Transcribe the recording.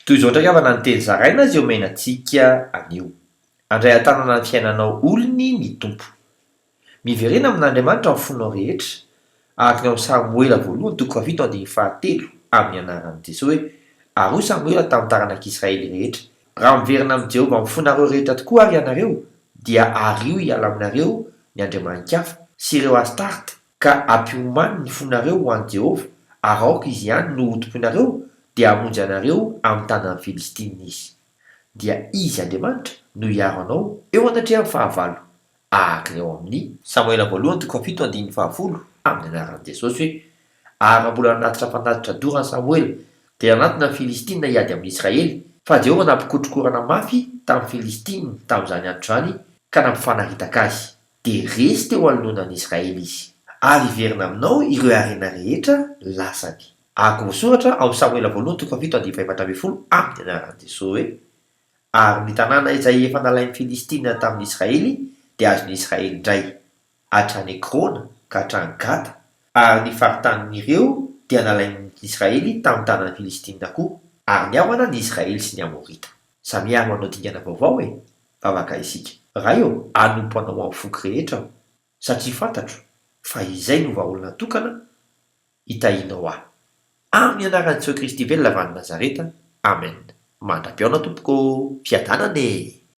Toy izao indray havana ny teny zaraina izay omena antsika anio, Handray an-tanana ny fiainanao olony ny Tompo. Miverena amin'Andriamanitra ny fonao rehetra, araka ny ao amin'ny Samoela voalohany toko fahafito andininy fahatelo, amin'ny anaran'i Jesoa hoe, Ary hoy Samoela tamin'ny taranak'Israely rehetra, Raha miverina amin'i Jehovah amin'ny fonareo rehetra tokoa àry ianareo, dia ario hiala aminareo ny andriamani-kafa, sy ireo Astarte, ka ampiomany ny fonareo ho an'i Jehovah, ary aoka izy ihany no hotompoinareo, dia hamonjy anareo amin'ny tanan'ny Filistinina izy. Dia izy, Andriamanitra, no hiaro anao eo anatrehan'ny fahavalo, araka ny ao amin'ny. Samoela Voalohany toko fito andininy fahafolo, amin'ny anaran'i Jesosy hoe, Ary raha mbola nanatitra fanatitra dorana Samoela, dia nanatona ny Filistinina hiady amin'ny Israely, fa Jehovah nampikotrokorana mafy tamin'ny Filistinina tamin'izany andro izany, ka nampifanaritaka azy. dia resy teo anoloanan'Israely izy, ary hiverina aminao ireo harena rehetra lasany. Araka voasoratra ao amin'ny Samoela Voalohany toko fahafito andinin'ny fahefatra ambin'ny folo amin'ny anaran'i Jesoa hoe, Ary ny tanàna izay efa nalain'ny Filistina tamin'Israely dia azon'Israely indray, hatrany Ekrona ka hatrany Gata, ary ny faritanin'ireo dia nalain'Israely tamin'ny tanan'ny Filistina koa, ary nihavana ny Israely sy ny Amorita. Samy avy manao dingana vaovao e! vavaka isika. Ray ô, anompo anao amin'ny foko rehetra aho, satria fantatro fa izay no vahaolana tokana hitahianao ahy. Amin'ny anaran'i Jesoa Kristy velona avy any Nazareta, Amen. Mandra-pihaona tompoko ô! Fiadanana e!